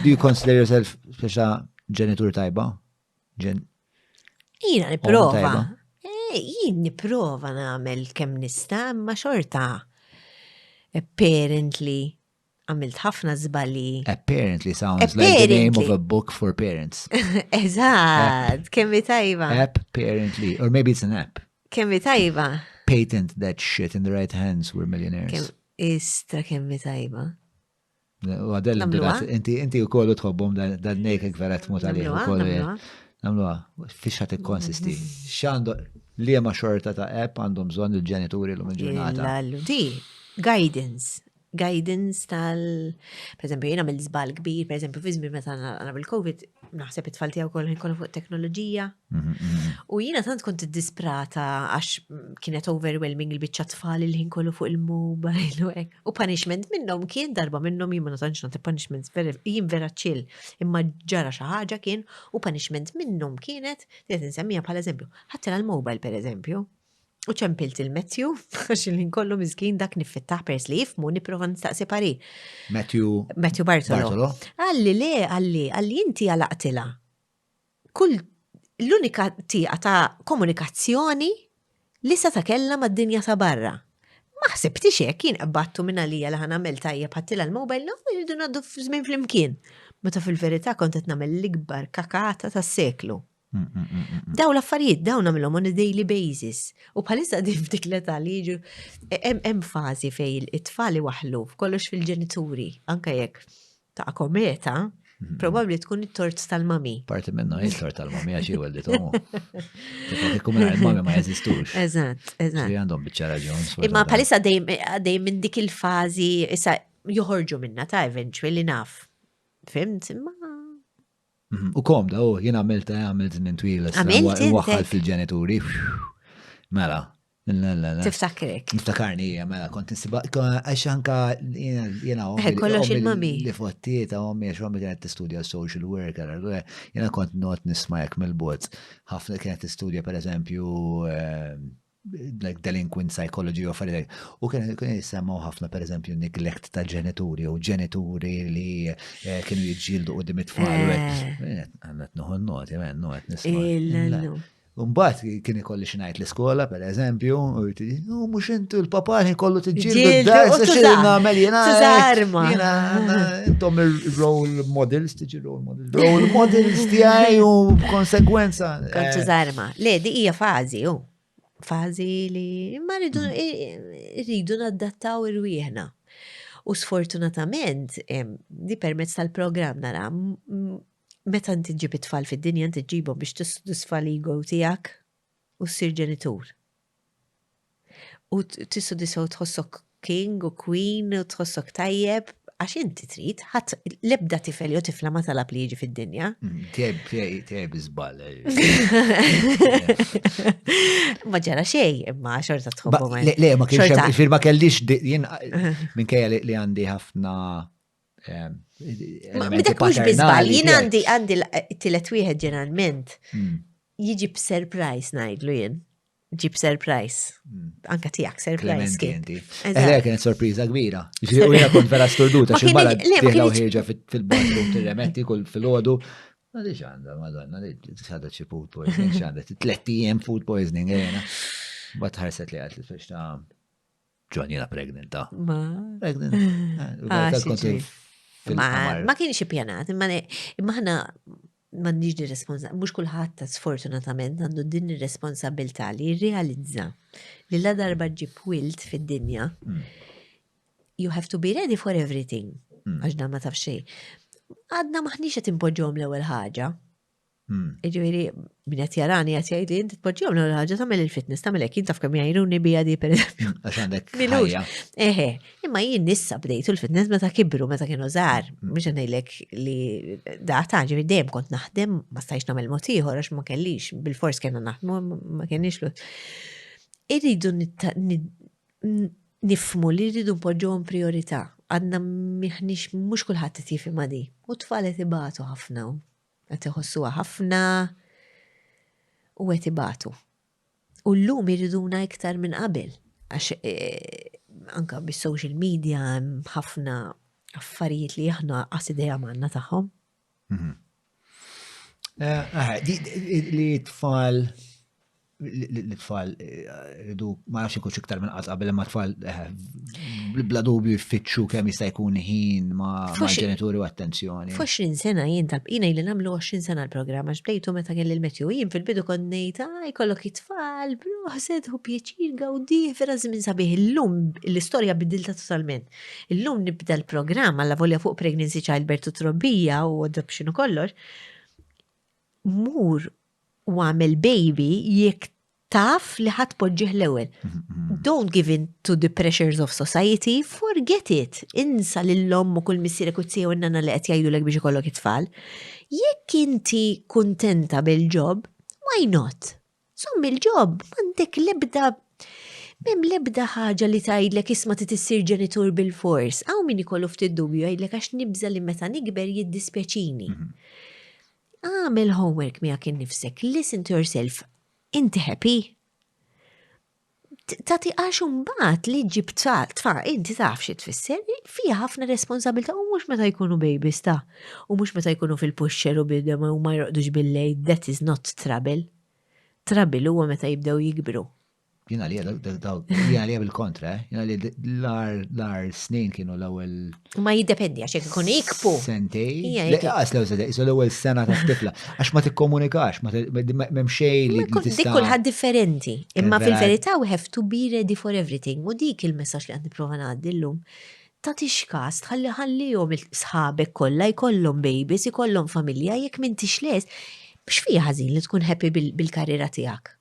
Do you consider yourself speċa ġenitur tajba? Ġen. Jina niprofa. Eh, jien niprofa namel kem nista, ma xorta. Apparently, għamilt ħafna zbali. Apparently sounds like the name of a book for parents. Eżat, kemmi tajba. Apparently, or maybe it's an app. Kemmi tajba. Patent that shit in the right hands, we're millionaires. Istra kemmi tajba. U għadel inturat, inti inti u kollu tħobbom dan nejk gvera tmut għalih u kollu. Namluwa, fiex ħat konsisti. Xandu li ma xorta ta' app għandhom bżon il-ġenituri l-lum il-ġurnata. Di, guidance. Guidance tal, per eżempju, jena mill-zbal kbir, per eżempju, fizmi meta għana bil-Covid, naħseb it-tfal tijaw kollu kollu fuq teknoloġija, U jina tant kont disprata għax kienet overwhelming il-bicċa tfal il-ħin kollu fuq il-mobile u hekk. U punishment minnhom kien darba minnhom jien ma tantx nagħti punishment jien vera ċill. Imma ġara xi ħaġa kien u punishment minnhom kienet qed insemmija bħala eżempju. Ħaddilha l-mobile pereżempju. U ċempilt il-Matthew, għax il-ħin kollu miżkin dak niffittaħ pers li jifmu niprofa nistaqsi pari. Matthew. Matthew Bartolo. Għalli le, għalli, għalli inti għalaqtila. kull l-unika tieqa ta' komunikazzjoni li seta' kellha mad-dinja ta' barra. Ma ħsibtix hekk, jien qbadtu minn għalija li ħa nagħmel tajjeb ħadtilha l-mobile no irridu ngħaddu żmien flimkien, meta fil-verità kont qed nagħmel l-ikbar kakata tas-seklu. Dawn l-affarijiet dawn nagħmilhom on a daily basis u bħalissa din f'dik l-età li jiġu hemm fażi fejn it-tfal iwaħħlu kollox fil-ġenituri anke jekk ta' kometa, mhm. probabli tkun it-tort tal-mami. Parti minna il tort tal-mami għax jew għaldi tomu. Ikkum il-mami ma jeżistux. Eżatt, eżatt. Li għandhom bieċa raġun. Imma palissa għaddej minn dik il-fazi, issa joħorġu minna ta' eventually naf. Fimt, imma mhm. U komda, u jien għamilta għamilt minn twila. Għamilt. Waħħal fil-ġenituri. Mela, Tiftakrek. Niftakarni hija mela kont nisiba għax anka jiena eh, kollox il-mami. Li fottiet għommi għax għommi kienet tistudja social worker, allura jiena kont not nisma' jekk mill-bot. Ħafna kienet tistudja pereżempju eh, like delinquent psychology of like, u kien kien jisemmaw ħafna per eżempju neglect ta' ġenituri u ġenituri li eh, kienu jġildu u dimit tfal. Għannet nuħu n-noti, għannet nisma. Umbat kien ikolli xinajt l-iskola, per eżempju, u mux intu l-papani kollu t-ġildu d-dar, s xil namel jena. Zazarma. Jena, intom il-role models, tiġi role models. Role models tijaj u konsekwenza. Kontu zarma. Eh. Le, di ija fazi, u. Fazi li ma rridu mm. naddattaw irwieħna. U sfortunatament, di permezz tal-program nara, Meta inti ġġib it-tfal fid-dinja inti ġġibhom biex tissodisfa l-ego tiegħek u ssir ġenitur. U tissodisfa u tħossok king u queen u tħossok tajjeb għax inti trid, ħadd l-ebda tifel jew tifla ma talab li jiġi fid-dinja. Mm, teb, teb, iżbal. Ma ġara xej, imma xorta tħobbu ma. Le, ma kienx firma kellix jien minkejja li għandi ħafna Dak mhux biżbal, jien għandi għandi t-tielet wieħed ġeneralment hmm. jiġi b'surprise ngħidlu jien. Ġib surprise. Hmm. Anka tiegħek surprise. Eħle eh, kienet sorpriża kbira. Ġifieri u jien kont vera sturduta xi barra tieħla u ħieġa fil-baġnu tirremetti kull fil-għodu. Ma diġ għandha, madonna, diġ għandha xi food poisoning, xi għandha tletti jem food poisoning, għena. Eh, Bat ħarset li għatli fiex ta' Ġon jena pregnant, ta. Ah. Ma. Pregnant. Ah, xi Kont ġri. fil- Ma, fil-qamar. ma kienx ippjanat, imma ne- imma ħna m'għandniex din responsa, mhux kulħadd ta' sfortunatament għandu din ir-responsabilità li jirrealizza li la darba ġib wild fid-dinja, Mm. you have to be ready for everything, Mm. għax dan ma taf xejn. Għadna maħniex qed impoġġhom l-ewwel ħaġa. Hmm. Ġifieri min qed jarani qed jgħid li inti tpoġġihom l ħaġa tagħmel il-fitness tagħmel hekk jintaf kemm jgħinuni bija di pereżempju. Hmm, għax għandek ħajja. Eħe, imma jien nissa bdejtu l-fitness meta kibru meta kienu żgħar, hmm. mhux ngħidlek li data ġifieri dejjem kont naħdem ma stajx nagħmel mod ieħor għax ma kellix bil-fors kellna naħdmu ma kenniex lut. Irridu nifmu li rridu npoġġuhom priorità għadna miħnix mhux kulħadd qed jifhimha di. U tfalet ibatu ħafna Qed iħossuha ħafna u qed ibatu. U llum iriduna iktar minn qabel għax anka bis-social media hemm ħafna affarijiet li aħna qas idea manna tagħhom. Mhm. Eh, eh, li tfal l-tfal ridu ma nafx ikux iktar minn qatt qabel imma tfal bla dubju jfittxu kemm jista' jkun ħin ma' ġenituri u attenzjoni. Fu 20 sena jien tal jina li nagħmlu 20 sena l-programm għax bdejtu meta kelli l-metju jien fil-bidu kont ngħid ah jkollok it-tfal proħset u pjaċir gawdi vera żmien sabiħ illum l-istorja bidilta totalment. Illum nibda l-programm għalla volja fuq pregnancy childbirth u trobbija u adoption u kollox. Mur u għamel baby jekk taf li ħadd poġġih l-ewwel. Don't give in to the pressures of society, forget it. Insa lill-omm u kull missierek u t-tija u n-nana li qed jgħidulek biex ikollok it-tfal. Jekk inti kuntenta bil-ġob, why not? Żomm il-ġob, m'għandek l-ebda Mem lebda ħaġa li tgħidlek isma' ti tissir ġenitur bil-fors. Hawn min ikollu ftit dubju jgħidlek għax nibża li meta nikber jiddispjaċini. Mhm. Għamel homework miegħek innifsek, listen to yourself. Inti happy? ta' tiqax mbagħad li ġib tfa, inti taf xi tfisser, fiha ħafna responsabilità u mhux meta jkunu babies ta' u mhux meta jkunu fil-puxxer u bidem u ma jroqdux bil-lejl, that is not trouble. Trouble huwa meta jibdew jikbru. Jina li jina li bil-kontra, eh? jina li l-ar snin kienu l-ewel. Ma jiddependi għax jek ikun ikpu. Sentej. Għas l-ewel sentej, jisu l-ewel sena ta' tifla. Għax ma t-komunikax, ma memxej li. Dik kulħad differenti. Imma fil-verita we have to be ready for everything. U dik il-messax li għad niprofa għaddi l-lum. Ta' tixkas, tħalli ħalli jom il-sħabek kolla, jkollom babies, jkollom familja, jek minn tixles, biex fija ħazin li tkun happy bil-karriera tijak.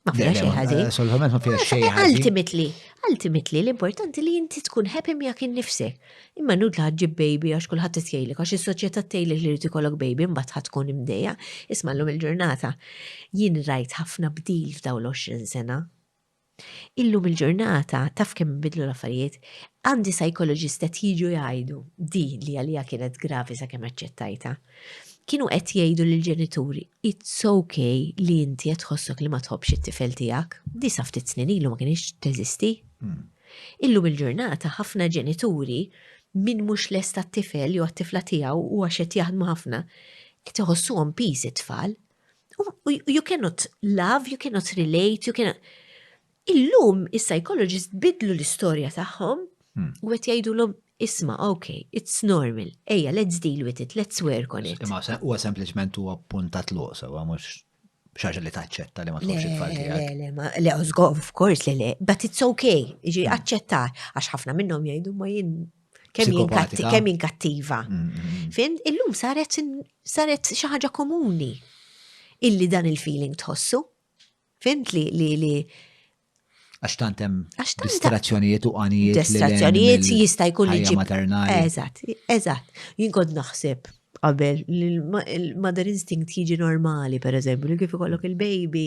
Ma fiha xejn ħażin. Assolutament ma fiha xejn ħażin. Ultimately, ultimately l-importanti li inti tkun happy miegħek innifsek. Imma nud li ħaġġib baby għax kulħadd tgħidlek għax is-soċjetà tgħidlek li rid ikollok baby mbagħad ħadd tkun imdejja. Isma' llum il-ġurnata jien rajt ħafna bdil f'dawn l-20 sena. Illum il-ġurnata taf kemm bidlu l-affarijiet, għandi psychologist qed jiġu jgħidu di li għalija kienet gravi sakemm aċċettajta kienu qed jgħidu lill-ġenituri, It's ok li inti qed tħossok li ma tħobbx it-tifel tiegħek. Di sa ftit snin ilu ma kinitx teżisti. Illum il-ġurnata ħafna ġenituri min mhux lest għat-tifel jew għat-tifla tiegħu u għax qed jaħdmu ħafna qed iħossuhom piż it-tfal. U you cannot love, you cannot relate, you cannot Illum is-psychologists bidlu l-istorja tagħhom u qed jgħidulhom isma' ok, it's normal, ejja let's deal with it, let's work on it. Imma huwa sempliċement huwa punta tluq sewwa mhux xaġa li taċċetta li ma tkunx it-tfal tiegħek. Le, le, le, of course, le, le, but it's okay, ġi hmm. aċċetta, għax ħafna minnhom jgħidu ma jien kemm jien kattiva. Hmm, hmm, Fin, illum saret saret xi ħaġa komuni illi dan il-feeling tħossu. Fimt li li li. Għax tant hemm distrazzjonijiet u għanijiet. Distrazzjonijiet jista' jkun li ġib. Eżatt, eżatt. Jien kont naħseb qabel il-mother instinct jiġi normali, per eżempju, li kif ikollok il-baby,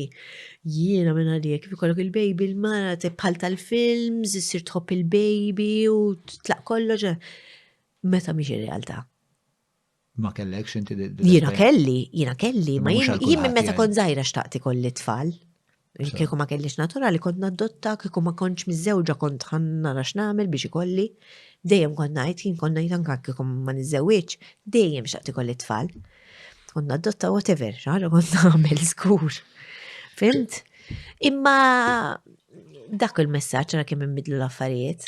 jiena minna li kif ikollok il-baby, il-mara bħal tal-films, jissir tħobb il-baby u tlaq kollox. Meta miex il-realtà. Ma kellekx inti Jiena kelli, jiena kelli, ma jien minn meta kont żgħira xtaqti kolli tfal. Kieku ma kellix naturali kont nadotta, kieku ma kontx miżewġa kont nara x'nagħmel biex ikolli. Dejjem kont ngħid, jien kont ngħid anke kieku ma niżżewwiġ, dejjem xtaqti kolli tfal. Kont nadotta whatever, xaħġa kont nagħmel skur. Fimt? Imma dak il-messaġġ ra kemm inbidlu l-affarijiet.